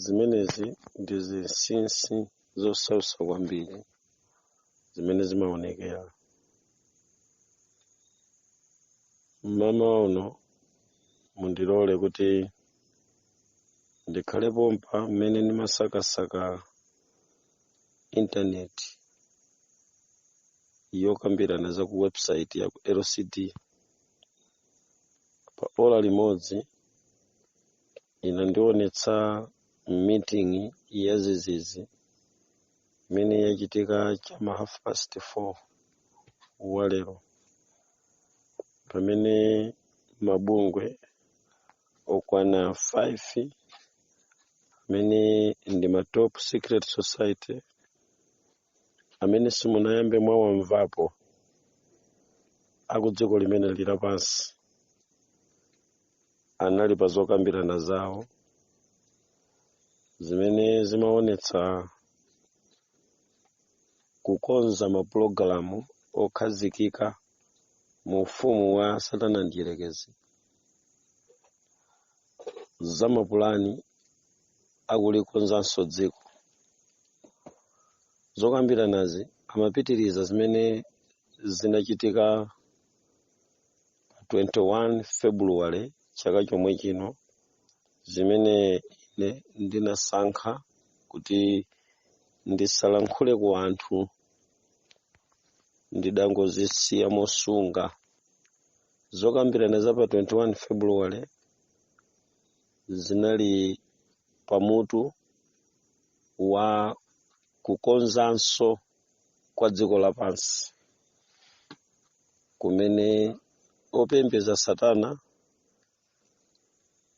zimenezi ndi zinsinsi zosautsa kwambiri zimene zimaonekera mmamawa uno mundilole kuti ndikhale pompa mmene ndimasakasaka intaneti yokambirana za ku website ya ku lcd pa ola limodzi inandionetsa meeting yachinsinsi imene yachitika chama half past 4 walero pamene mabungwe okwana 5 amene ndi ma top secret society amene simunayambe mwawamvapo aku dziko limene lili lapansi anali pa zokambirana zawo zimene zimaonetsa kukonza mapulogalamu okhazikika mu ufumu wa satana mdyerekezi za mapulani okulikonzanso dziko zokambiranazi amapitiriza zimene zinachitika pa 21 february chaka chomwe chino zimene ine ndinasankha kuti ndisalankhule ku anthu ndidangozisiya mosunga zokambirana za pa 21 february zinali pamutu wa kukonzanso kwa dziko lapansi kumene opembeza satana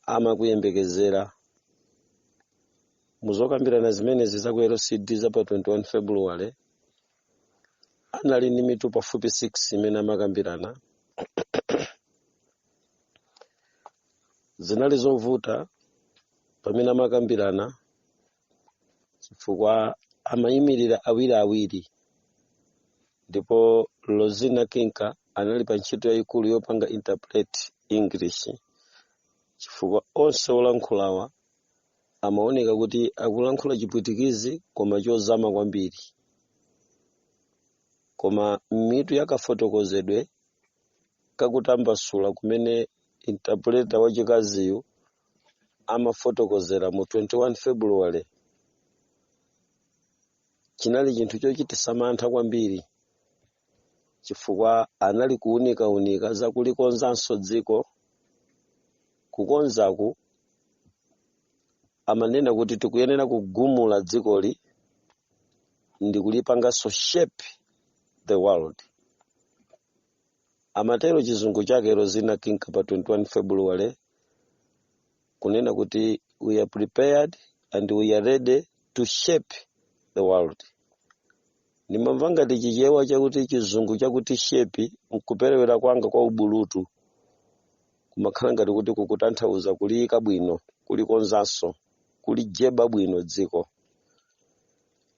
amakuyembekezera muzokambirana zimenezi za ku lcd za pa 21 february anali ndi mitu pafupi 6 imene amakambirana zinali zovuta pamene amakambirana chifukwa amayimirira awiri awiri ndipo lozina kinka anali pa ntchito yayikulu yopanga interpret english chifukwa onse olankhulawa amaoneka kuti akulankhula chipwitikizi koma chozama kwambiri koma mitu yakafotokozedwe kakutambasula kumene intapuleta wachikaziyu amafotokozera mu 21 February chinali chinthu chochititsa mantha kwambiri chifukwa anali kuunikaunika za kulikonzanso dziko kukonzaku amanena kuti tikuyenera kugumula dzikoli ndi kulipanganso shape the world amatero chizungu chake rozina kinka pa 21 february kunena kuti we are prepared and we are ready to shape the world ndimamva ngati chichewa chakuti chizungu chakuti shape nkuperewera kwanga kwa ubulutu kumakhala ngati kuti kukutanthauza kuliyika bwino kulikonzanso kulijeba bwino dziko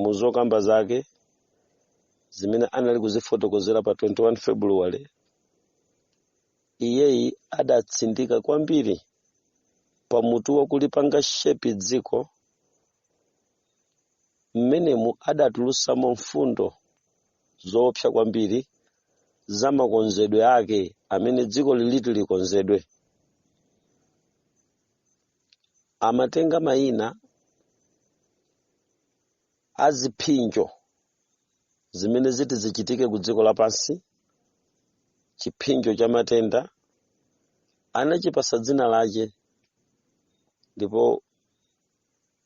mu zokamba zake zimene anali kuzifotokozera pa 21 february iyeyi adatsindika kwambiri pa mutu wa kulipanga shape dziko mmenemu adatulutsamo mfundo zoopsa kwambiri za makonzedwe ake amene dziko liliti likonzedwe amatenga mayina a ziphinjo zimene ziti zichitike ku dziko lapansi chiphinjo cha matenda anachipasa dzina lache ndipo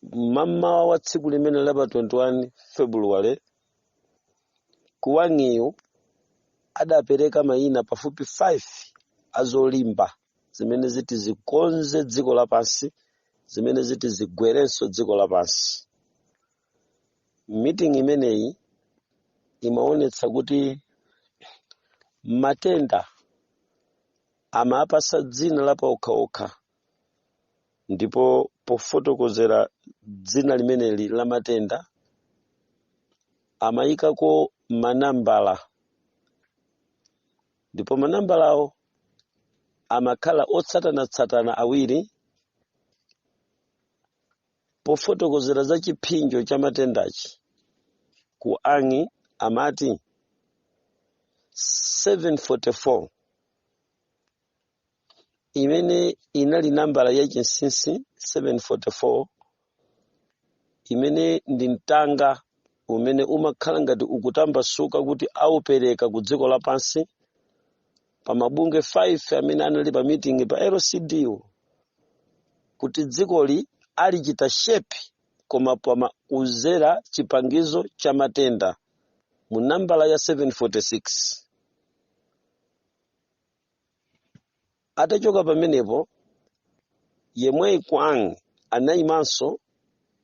mmamawa wa tsiku limene la pa 21 february ku wang'iyo adapereka mayina pafupi 5 azolimba zimene ziti zikonze dziko lapansi zimene ziti zigwerenso dziko lapansi meeting imeneyi imaonetsa kuti matenda amapasa dzina lapaokhaokha ndipo pofotokozera dzina limeneli la matenda amayikako manambala ndipo manambalawo amakhala otsatanatsatana awiri pofotokozera za chiphinjo cha matendachi ku wang'i amati 744 imene inali nambala ya chinsinsi 744 imene ndi mtanga umene umakhala ngati ukutambasuka kuti awupereka ku dziko lapansi pa mabungwe 5 amene anali pa meeting pa LCD wo kuti dzikoli alichita shape koma podzera chipangizo cha matenda mu nambala ya 746 Atachoka pamenepo, yemweyi Quang anaimanso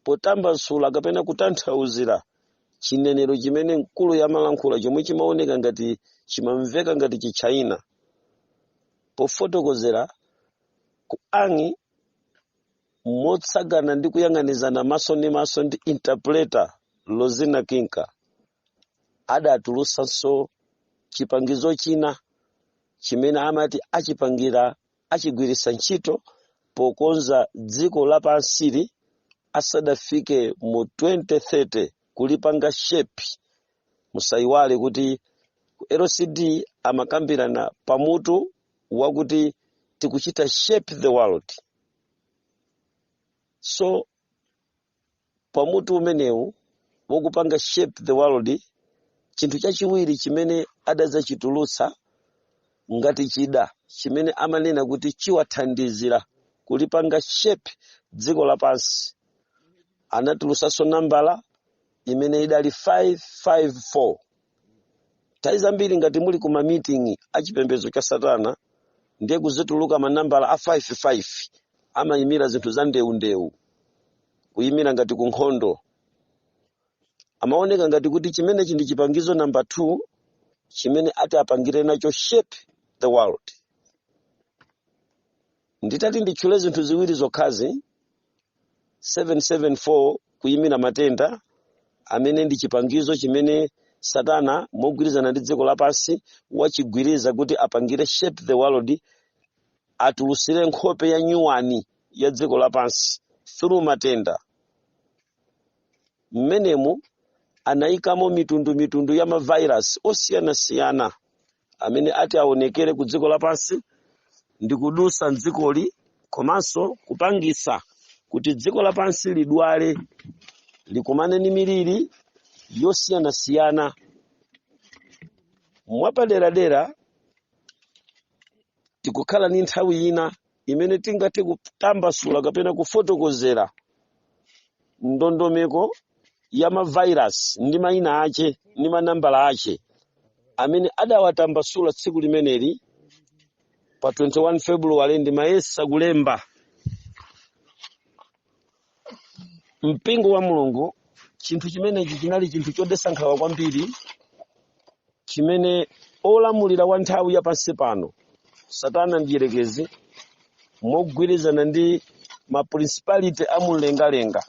potambasula kapena kutanthauzira chinenero chimene mkuluyo amalankhula chomwe chimaoneka ngati chimamveka ngati Chitchaina. Pofotokozera, Quang motsagana ndi kuyang'anizana maso ndi maso ndi interpreter Rosina Kinka. adatulutsanso chipangizo china chimene amati achipangira achigwiritsa ntchito pokonza dziko lapansili asadafike mu 2030 kulipanga shape musayiwale kuti ku lcd amakambirana pamutu wakuti tikuchita shape the world so pa mutu umenewu wakupanga shape the world chinthu chachiwiri chimene adadzachitulutsa ngati chida chimene amanena kuti chiwathandizira kulipanga shape dziko lapansi anatulutsanso nambala imene idali 554 nthawi zambiri ngati muli ku mamiting a chipembedzo cha satana ndiye kudzituluka manambala a 55 amayimira zinthu za ndewundewu kuyimira ngati ku nkhondo amaoneka ngati kuti chimenechi ndi chipangizo namba 2 chimene ati apangire nacho shape the world nditati nditchule zinthu ziwiri zokhazi 774 kuyimira matenda amene ndi chipangizo chimene satana mogwirizana ndi dziko lapansi achigwiritsa kuti apangire shape the world atulusire nkhope ya nyuwani ya dziko lapansi through matenda mmenemu anayikamo mitundu mitundu ya mavirus osiyanasiyana amene ati aonekere ku dziko lapansi ndi kudusa mdzikoli komanso kupangisa kuti dziko lapansi lidwale likumane ni miliri yosiyanasiyana mwapaderadera tikukhala ni nthawi ina imene tingathe kutambasula kapena kufotokozera ndondomeko ya mavairasi ndi mayina ache ndi manambala ache amene adawatambasula tsiku limeneli pa 21 februwale ndimayesa kulemba mpingo wa mulungu chinthu chimenechi chinali chinthu chodetsa nkhawa kwambiri chimene olamulira wa nthawi ya pansi pano satana mdierekezi mogwirizana ndi maprincipality a mumlengalenga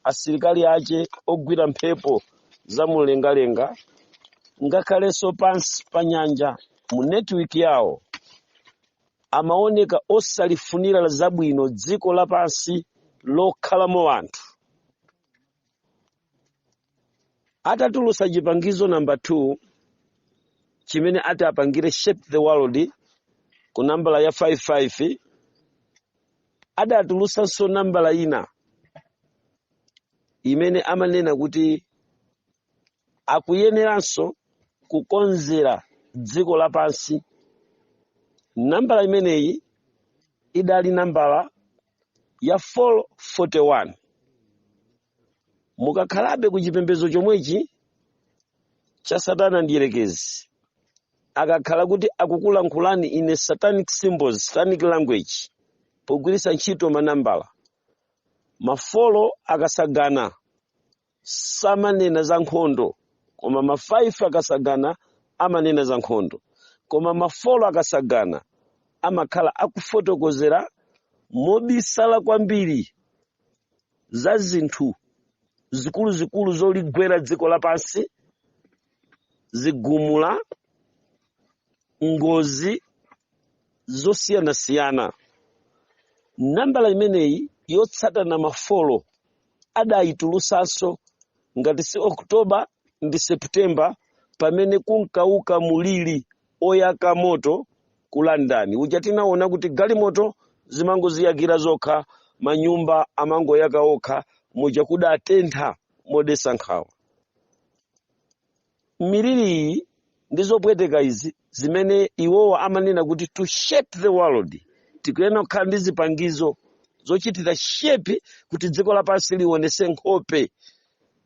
asilikali ace ogwira mphepo za mumlengalenga ngakhalenso pansi pa nyanja mu netiwiki yawo amaoneka osalifunira zabwino dziko lapansi lokhalamo anthu. Adatulutsa chipangizo namba 2 chimene ati apangire Shape the World ku nambala ya 55, adatulutsanso nambala ina imene amanena kuti akuyeneranso kukonzera dziko lapansi. Nambala imeneyi idali nambala ya 441. Mukakhalabe ku chipembedzo chomwechi cha Satana Mdyerekezi, akakhala kuti akukulankhulani in satanic symbols, satanic language, pogwiritsa ntchito manambala, mafolo akasagana samanena za nkhondo koma ma 5 akasagana amanena za nkhondo koma mafolo akasagana amakhala akufotokozera mobisala kwambiri za zinthu zikuluzikulu zoligwera dziko lapansi zigumula ngozi zosiyanasiyana nambala imeneyi yotsatana mafolo adayitulusanso ngati si October ndi September pamene kunkauka mulili oyaka moto ku London uja tinaona kuti galimoto zimangoziyakira zokha manyumba amangoyaka okha muja kudatentha modesa nkhawa miliri iyi ndi zopweteka izi zimene iwowo amanena kuti to shape the world tikuyenera kukhala ndi zipangizo zochitira shape kuti dziko lapansi lionese nkhope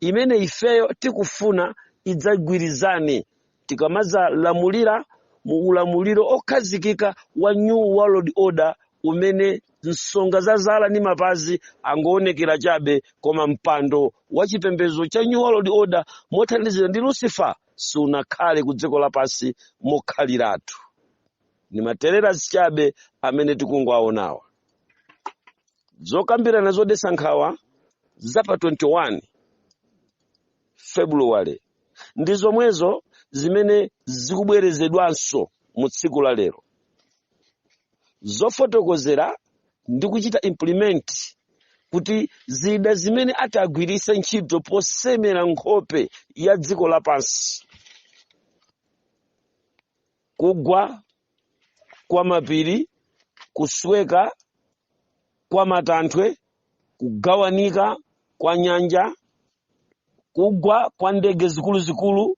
imene ifeyo tikufuna idzagwirizane tikamadzalamulira mu ulamuliro okhazikika wa new world order umene Nsonga za zala ndi mapazi angaoonekera chabe, koma mpando wa chipembedzo cha New World Order mothandizidwa ndi Lucifer sunakhale ku dziko lapansi mokhaliratu. Ndi matererasi chabe amene tikungowaonawa. Zokambirana zodetsa nkhawa za pa 21 February ndi zomwezo zimene zikubwerezedwanso mu tsiku la lero zofotokozera ndi kuchita implement kuti zida zimene ataagwiritse ntchito posemera nkhope ya dziko lapansi kugwa kwa mapiri kusweka kwa matanthwe kugawanika kwa nyanja kugwa kwa ndege zikuluzikulu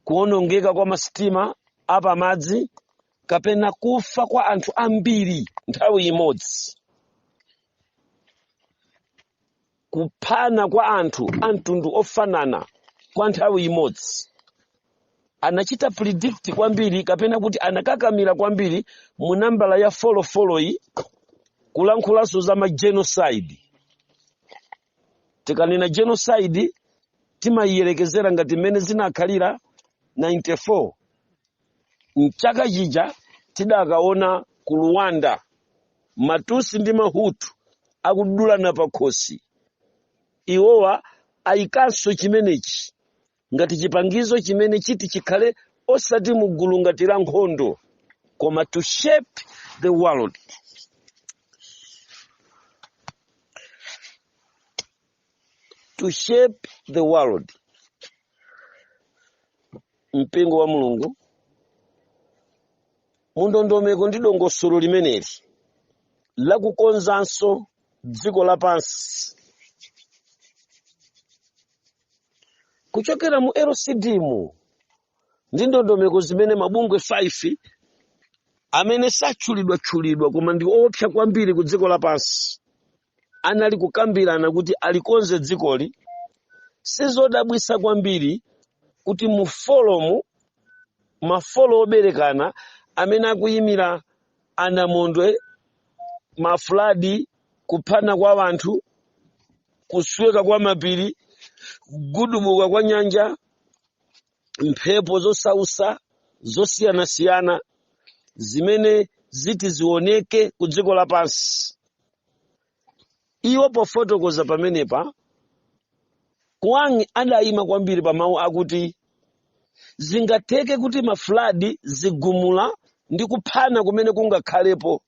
kuonongeka kwa masitima apamadzi kapena kufa kwa anthu ambiri nthawi imodzi kuphana kwa anthu a mtundu ofanana kwa nthawi imodzi anachita predict kwambiri kapena kuti anakakamira kwambiri mu nambala ya 44 yi kulankhulanso za ma genocide tikanena genocide timayiyerekezera ngati mmene zinakhalira 94 mchaka chija tidakaona ku rwanda matutsi ndi mahutu akudulana pakhosi iwowa ayikanso chimenechi ngati chipangizo chimene chiti chikhale osati mu gulu ngati la nkhondo koma to shape the world mpingo wa mulungu mundondomeko ndi dongosolo limeneli lakukonzanso dziko lapansi kuchokera mu lcd mu ndi ndondomeko zimene mabungwe 5 amene satchulidwatchulidwa koma ndi oopsa kwambiri ku dziko lapansi anali kukambirana kuti alikonze dzikoli sizodabwitsa kwambiri kuti mu form mafolo oberekana amene akuyimira anamondwe ma flood kuphana kwa wanthu kusweka kwa mapiri kugudubuka kwa nyanja mphepo zosausa zosiyanasiyana zimene ziti zioneke ku dziko lapansi iwo pofotokoza pamenepa kuang adayima kwambiri pa mawu akuti zingatheke kuti mafuladi zigumula ndi kuphana kumene kungakhalepo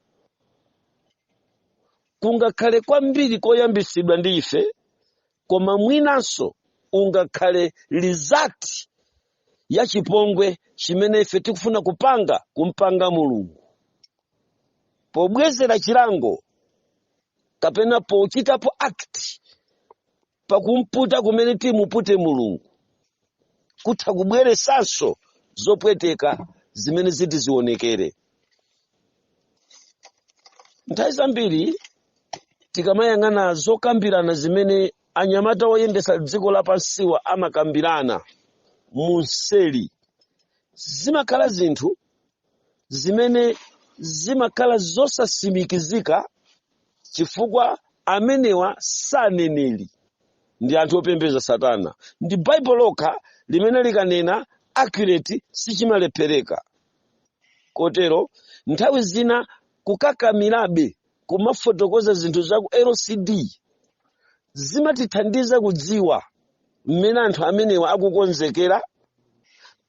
kungakhale kwambiri koyambitsidwa ndi ife koma mwinanso ungakhale result ya chipongwe chimene ife tikufuna kupanga kumpanga mulungu pobwezera chilango kapena pochitapo act pakumputa kumene timupute mulungu kutha kubweresanso zopweteka zimene ziti zionekere nthawi zambiri tikamayang'ana zokambirana zimene anyamata oyendesa dziko lapansiwa amakambirana munseli zimakhala zinthu zimene zimakhala zosasimikizika chifukwa amenewa saneneri ndi anthu opembeza satana ndi baibulo lokha limene likanena accurate sichimalephereka kotero nthawi zina kukakamirabe kumafotokoza zinthu za ku locd zimatithandiza kudziwa mmene anthu amenewa akukonzekera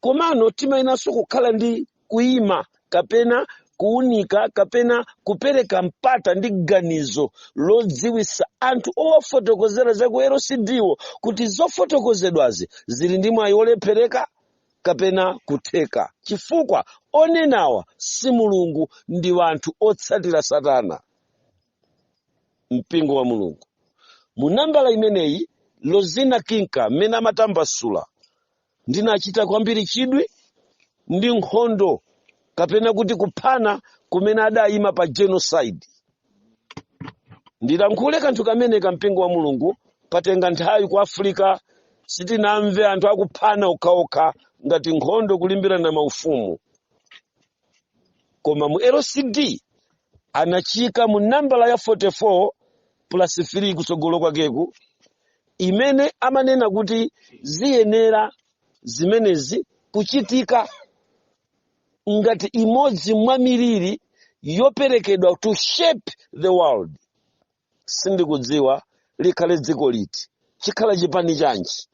komano timayenanso kukhala ndi kuima kapena kuunika kapena kupereka mpata ndi ganizo lodziwisa anthu owafotokozera za ku locdwo kuti zofotokozedwazi zili ndi mwayi wolephereka kapena kutheka chifukwa onenawa si mulungu ndi wanthu otsatira satana mpingo wa mulungu mu nambala imeneyi lozina kinka mmene amatambasula ndinachita kwambiri chidwi ndi nkhondo kapena kuti kuphana kumene adayima pa genocide ndilankhule kanthu kameneka mpingo wa mulungu patenga nthawi ku afirika sitinamve anthu akuphana okhaokha ngati nkhondo kulimbirana maufumu koma mu locd anachiika mu nambala ya 44 plus 3 kutsogolo kwakeku imene amanena kuti ziyenera zimenezi kuchitika ngati imodzi mwa miliri yoperekedwa to shape the world sindikudziwa likhale dziko liti chikhala chipani chanji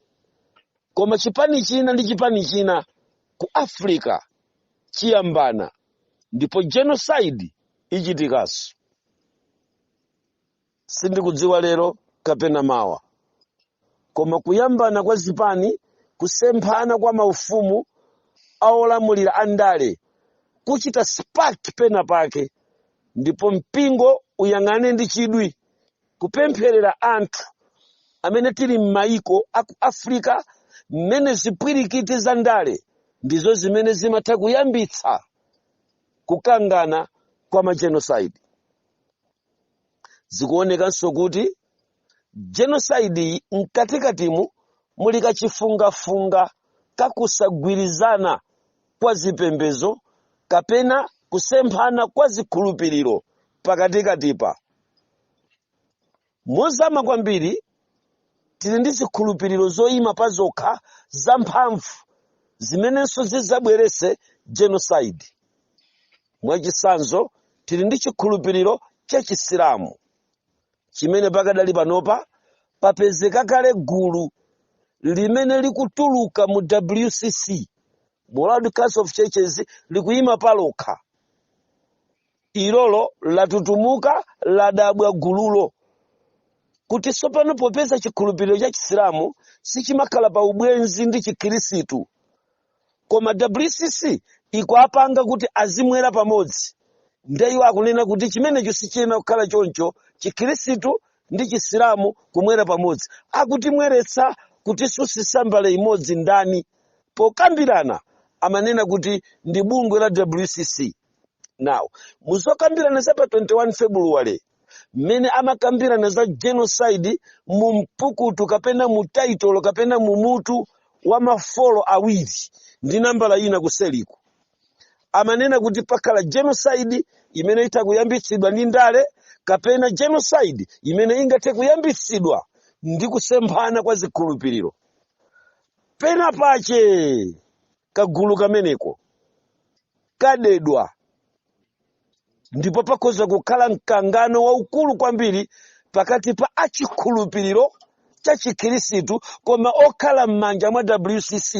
koma chipani china ndi chipani china ku africa chiyambana ndipo genocide ichitikanso sindikudziwa lero kapena mawa koma kuyambana kwa zipani, kusemphana kwa maufumu a olamulira a ndale kuchita spark pena pake, ndipo mpingo uyang'ane ndi chidwi kupempherera anthu amene tili m'mayiko a ku Africa mmene zipwirikiti za ndale ndizo zimene zimatha kuyambitsa kukangana kwa majenocide. Zikuonekanso kuti Genocide iyi mkatikatimu muli kachifungafunga ka kusagwirizana kwa zipembedzo kapena kusemphana kwa zikhulupiriro pakatikatipa. Mozama kwambiri, tili ndi zikhulupiriro zoima pazokha zamphamvu zimenenso zidzabweretse genocide. Mwachitsanzo, tili ndi chikhulupiriro cha Chisilamu. chimene pakadali panopa papezeka kale gulu limene likutuluka mu wcc mu world council of churches likuyima palokha ilolo latutumuka ladabwa gululo kuti tsopano popeza chikhulupiriro cha chisilamu sichimakhala pa ubwenzi ndi chikhirisitu koma wcc ikuwapanga kuti azimwera pamodzi nde iwo akunena kuti chimenecho sichiyenera kukhala choncho chikhirisitu ndi chisilamu kumwera pamodzi akutimweretsa kutisunsitsa mbale imodzi ndani pokambirana amanena kuti ndi bungwe la wcc now muzokambirana za pa 21 february mmene amakambirana za genocide mu mpukutu kapena mu taitolo kapena mu mutu wa mafolo awiri ndi nambala ina kuseliku amanena kuti pakhala genocide imene itha kuyambitsidwa ndi ndale kapena genocide imene ingathe kuyambitsidwa ndi kusemphana kwa zikhulupiriro pena pache kagulu kameneko kadedwa ndipo pakhoza kukhala mkangano waukulu kwambiri pakati pa achikhulupiriro cha chikhirisitu koma okhala m'manja mwa wcc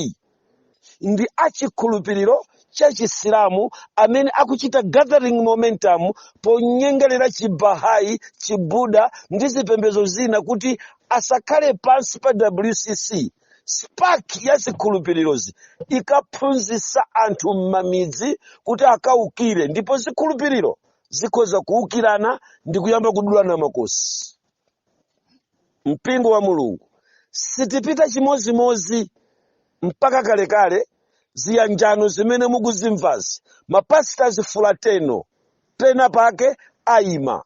ndi achikhulupiriro cha chisilamu amene akuchita gathering momentum ponyengerera chibahai chibuda ndi zipembezo zina kuti asakhale pansi pa wcc spark ya zikhulupiriro ikaphunzitsa anthu m'mamidzi kuti akaukire ndipo zikhulupiriro zikhoza kuukirana ndi kuyamba kudulana makosi mpingo wa mulungu sitipita chimozimozi mpaka kalekale ziyanjano zimene mukuzimvazi ma pastors fraternal pena pake ayima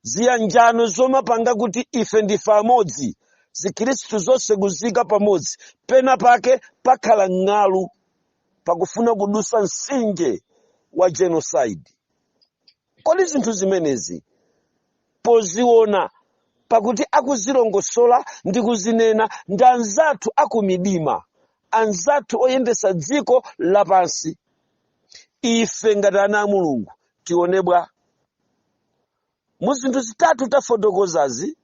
ziyanjano zomapanga kuti ife ndife amodzi zikhristu zonse kuziika pamodzi pena pake pakhala mng'alu pakufuna kudusa msinje wa genocide kodi zinthu zimenezi poziona pakuti akuzilongosola ndi kuzinena ndi anzathu akumidima anzathu oyendesa dziko lapansi ife ngati ana a mulungu tione bwa mu zinthu zitatu tafotokozazi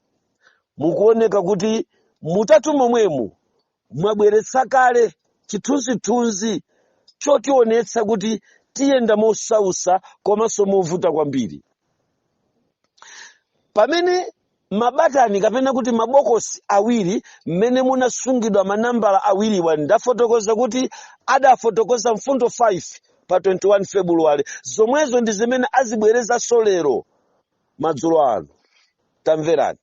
mukuoneka kuti mutatu momwemu mwabweretsa kale chithunzithunzi chotionetsa kuti tiyenda mosausa komanso movuta kwambiri pamene mabatani kapena kuti mabokosi awiri m'mene munasungidwa manambala awiriwa ndafotokoza kuti adafotokoza mfundo 5 pa 21 febuluwale zomwezo ndi zimene azibwerezanso lero madzulo ano tamverani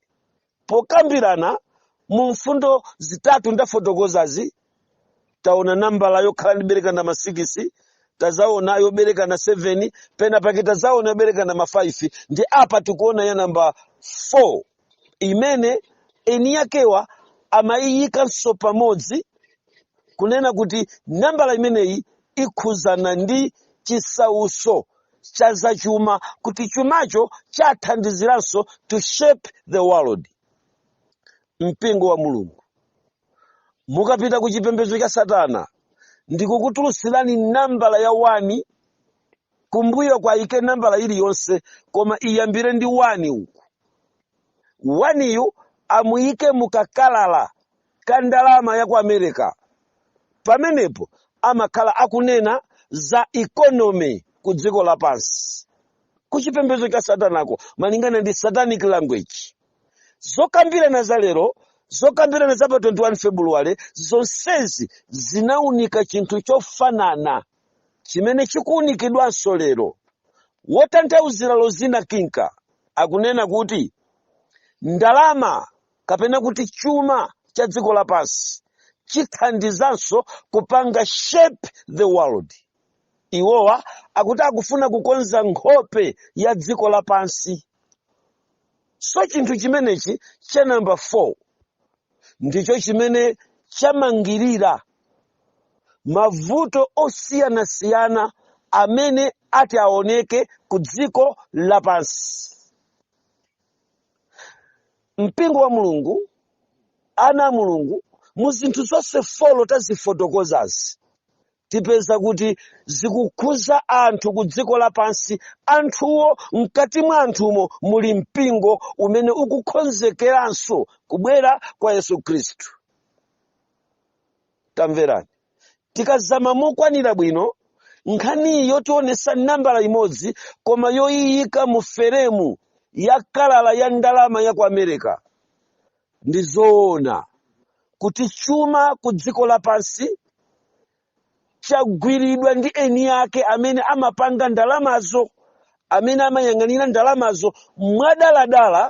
pokambirana mu mfundo zitatu ndafotokozazi taona nambala yokhala ndi kuberekana ma 6 tazaona yoberekana 7 pena pake tazaona yoberekana ma 5 ndi apa tikuona ya namba 4 imene eni yakewa amayiyikanso pamodzi kunena kuti nambala imeneyi ikhuzana ndi chisauso cha zachuma kuti chumacho chathandiziranso to shape the world mpingo wa mulungu mukapita ku chipembedzo cha satana ndikukutulutsirani nambala ya 1 kumbuyo kwaike nambala iliyonse koma iyambire ndi 1 uku waniyu amuyike mu kakalata ka ndalama ya ku america pamenepo amakhala akunena za economy ku dziko lapansi ku chipembedzo cha satanako malingana ndi satanic language Zokambirana za lero, zokambirana za pa 21 February, zonsezi zinaunika chinthu chofanana chimene chikuunikidwanso lero. Wotanthauzira Rosina Kinca akunena kuti, Ndalama, kapena kuti chuma cha dziko lapansi, chithandizanso kupanga shape the world. Iwowa akuti akufuna kukonza nkhope ya dziko lapansi. so chinthu chimenechi cha namba 4 ndicho chimene chamangirira mavuto osiyanasiyana amene ati aoneke ku dziko lapansi mpingo wa mulungu ana a mulungu mu zinthu zonse folo tazifotokozazi tipeza kuti zikukhuza anthu ku dziko lapansi anthuwo mkati mwa anthumo muli mpingo umene ukukhonzekeranso kubwera kwa yesu khristu tamverani tikazama mokwanira bwino nkhaniyi yotionesa nambala imodzi koma yoyiyika mu feremu ya kalala ya ndalama ya ku america Ndi zoona kuti chuma ku dziko lapansi chagwiridwa ndi eni ake amene amapanga ndalamazo, amene amayang'anira ndalamazo mwadaladala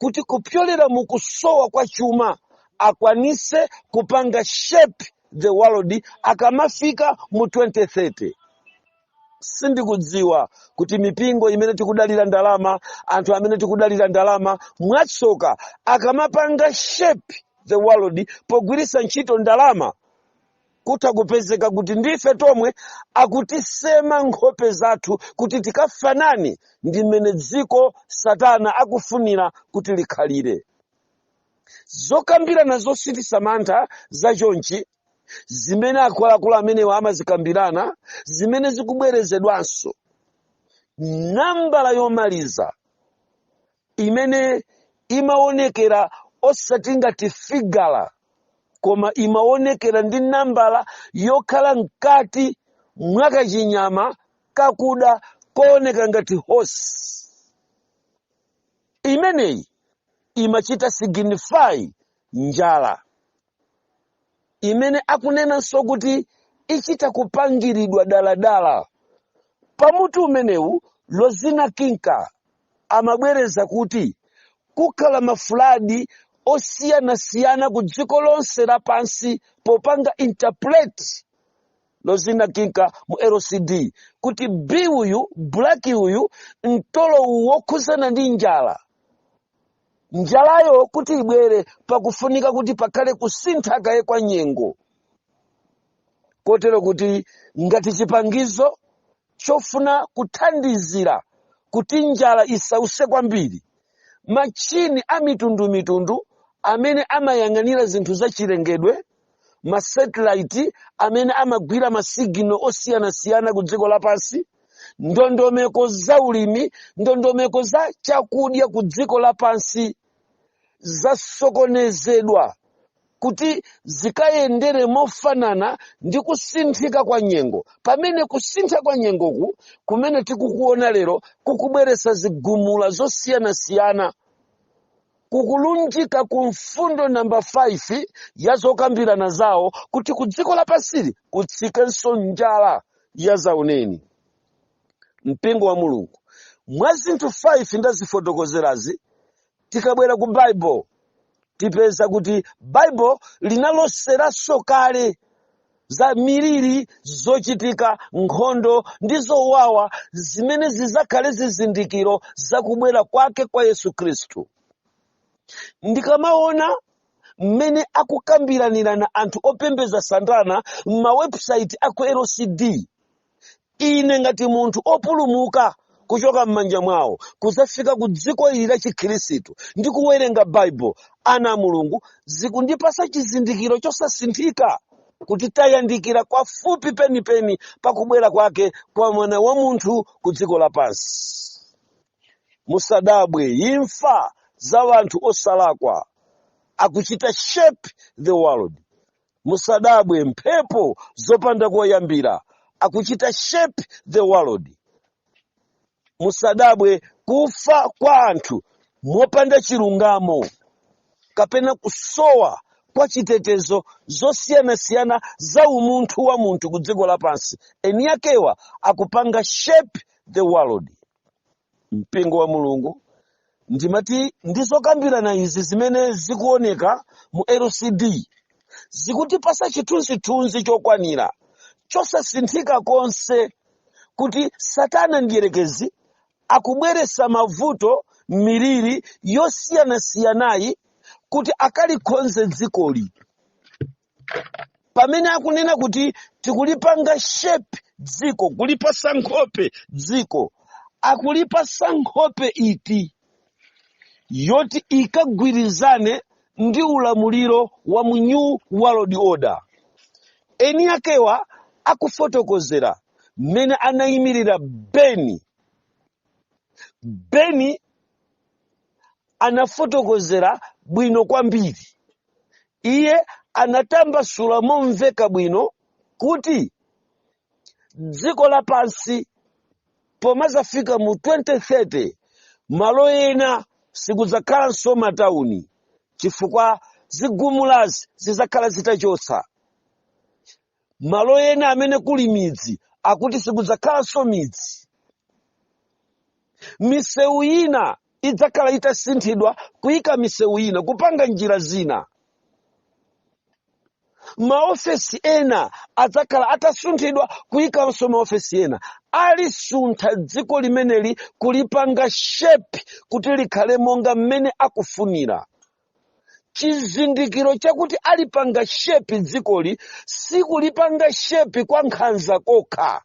kuti kupyolera mu kusowa kwa chuma akwanitse kupanga shape the world akamafika mu 2030. sindikudziwa kuti mipingo imene tikudalira ndalama anthu amene tikudalira ndalama mwatsoka akamapanga shape the world pogwiritsa ntchito ndalama kutha kupezeka kuti ndi ife tomwe akutisema nkhope zathu kuti tikafanane ndi mmene dziko satana akufunira kuti likhalire zokambirana zochititsa mantha za chonchi zimene akuluakulu amenewa amazikambirana zimene zikubwerezedwanso nambala yomaliza imene imaonekera osati ngati figala koma imaonekera ndi nambala yokhala mkati mwa kachinyama kakuda kooneka ngati horse imeneyi imachita signify njala imene akunenanso kuti ichita kupangiridwa daladala. Pa mutu umenewu, Lozina Kinka amabwereza kuti, Kukhala mafuladi osiyanasiyana ku dziko lonse lapansi popanga interpret Lozina Kinka mu LCD kuti B uyu, black uyu, mtolo uwu wokhudzana ndi njala, njalayo kuti ibwere pakufunika kuti pakhale kusintha kaye kwa nyengo kotero kuti ngati chipangizo chofuna kuthandizira kuti njala isause kwambiri machini a mitundumitundu amene amayang'anira zinthu zachilengedwe masatilaiti amene amagwira masigino osiyanasiyana ku dziko lapansi ndondomeko za ulimi ndondomeko za chakudya ku dziko lapansi zasokonezedwa kuti zikayendere mofanana ndi kusinthika kwa nyengo pamene kusintha kwa nyengoku kumene tikukuona lero kukubweretsa zigumula zosiyanasiyana kukulunjika ku mfundo namba 5 ya zokambirana zawo kuti ku dziko lapansili kutsikenso njala ya zauneni mpingo wa mulungu mwa zinthu 5 ndazifotokozerazi tikabwera ku baibulo tipeza kuti baibulo linaloseranso kale za miliri zochitika nkhondo ndi zowawa zimene zizakhale zizindikiro za kubwera kwake kwa yesu khristu ndikamaona mmene akukambiranira anthu opembeza satana m'mawebusaiti aku lcd ine ngati munthu opulumuka kuchoka m'manja mwawo kudzafika ku dziko ili la chikhristu ndi kuwerenga baibulo ana a mulungu zikundipasa chizindikiro chosasinthika kuti tayandikira kwafupi penipeni pakubwera kwake kwa mwana wa munthu ku dziko lapansi musadabwe imfa za wanthu osalakwa akuchita shape the world musadabwe mphepo zopanda koyambira akuchita shape the world musadabwe kufa kwa anthu mopanda chilungamo kapena kusowa kwa chitetezo zosiyanasiyana za umunthu wa munthu ku dziko lapansi eni akewa akupanga shape the world mpingo wa mulungu ndimati ndi zokambirana izi zimene zikuoneka mu lcd zikutipasa chithunzithunzi chokwanira chosasinthika konse kuti satana mdierekezi akubweretsa mavuto miliri yosiyanasiyanayi kuti akalikhonze dzikoli pamene akunena kuti tikulipanga shape dziko kulipasa nkhope dziko akulipasa nkhope iti yoti ikagwirizane ndi ulamuliro wa mu new world order eni akewa akufotokozera mmene anayimirira beni beni anafotokozera bwino kwambiri iye anatambasula momveka bwino kuti dziko lapansi pomadzafika mu 2030 malo ena sikudzakhalanso matauni chifukwa zigumulazi zidzakhala zitachotsa malo ena amene kuli midzi akuti sikudzakhalanso midzi misewu ina idzakhala itasinthidwa kuyika misewu ina kupanga njira zina maofesi ena adzakhala atasunthidwa kuyikanso maofesi ena alisuntha dziko limeneli kulipanga shepi kuti likhale monga mmene akufunira chizindikiro chakuti alipanga shepi dzikoli sikulipanga shepi kwa nkhanza kokha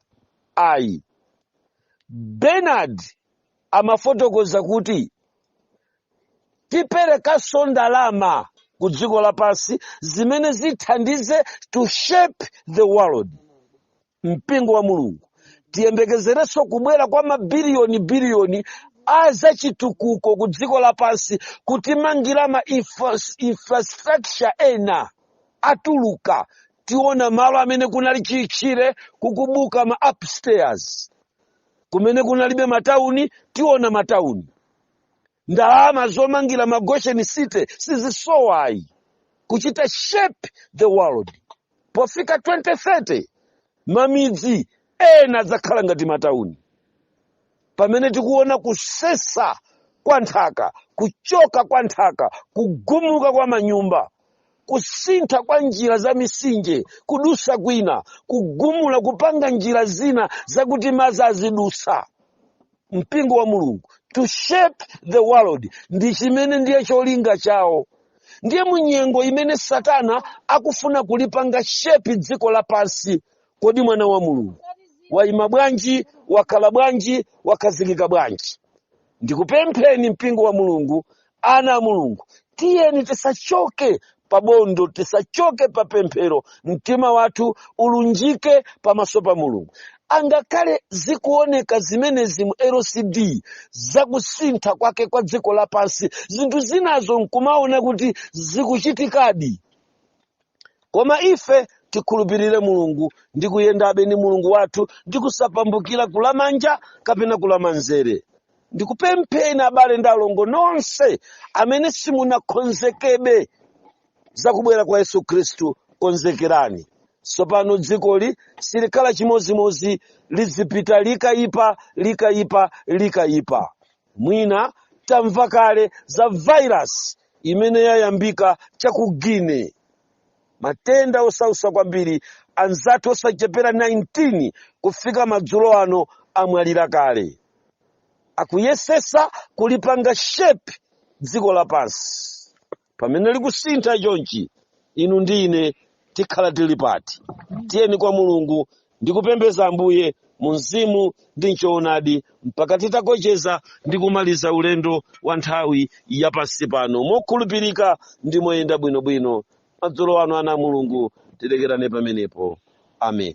ayi bernard amafotokoza kuti tiperekanso ndalama ku dziko lapansi zimene zithandize to shape the world mpingo wa mulungu tiyembekezerenso kubwera kwa mabiliyoni biliyoni a zachitukuko ku dziko lapansi kutimangira ma infrastructure ena atuluka tiona malo amene kunali chitchire kukubuka ma upstairs kumene kunalibe matauni tiona matauni ndalama zomangira ma goshen city sizisowayi kuchita shape the world pofika 2030 mamidzi ena adzakhala ngati matauni pamene tikuona kusesa kwa nthaka kuchoka kwa nthaka kugumuka kwa manyumba kusintha kwa njira za misinje kudusa kwina kugumula kupanga njira zina zakuti madzi azidusa mpingo wa mulungu to shape the world ndi chimene ndiye cholinga chawo ndiye munyengo imene satana akufuna kulipanga shepi dziko lapansi kodi mwana wa mulungu waima bwanji wakhala bwanji wakhazikika bwanji ndikupempheni mpingo wa mulungu ana a mulungu tiyeni tisachoke pabondo tisachoke pa pemphero mtima wathu ulunjike pamaso pa mulungu angakhale zikuoneka zimenezi mu lcd zakusintha kwake kwa dziko lapansi zinthu zinazo nkumaona kuti zikuchitikadi koma ife tikhulupirire mulungu ndi kuyendabe ndi mulungu wathu ndi kusapambukira kulamanja kapena kulamanzere ndikupempheni abale ndi alongo nonse amene simunakonzekebe za kubwera kwa yesu khristu konzekerani tsopano dzikoli silikhala chimodzimodzi lizipita likayipa likayipa likayipa mwina tamva kale za virus imene yayambika cha ku guinea matenda osautsa kwambiri anzathu osachepera 19 kufika madzulo ano amwalira kale akuyesetsa kulipanga shape dziko lapansi pamene likusintha chonchi inu ndi ine tikhala tili pati tiyeni kwa mulungu ndi kupembeza Ambuye mu mzimu ndi m'choonadi mpaka titakocheza ndi kumaliza ulendo wa nthawi ya pansi pano mokhulupirika ndi moyenda bwinobwino. Madzulo ano ana a Mulungu tilekerane pamenepo. Amen.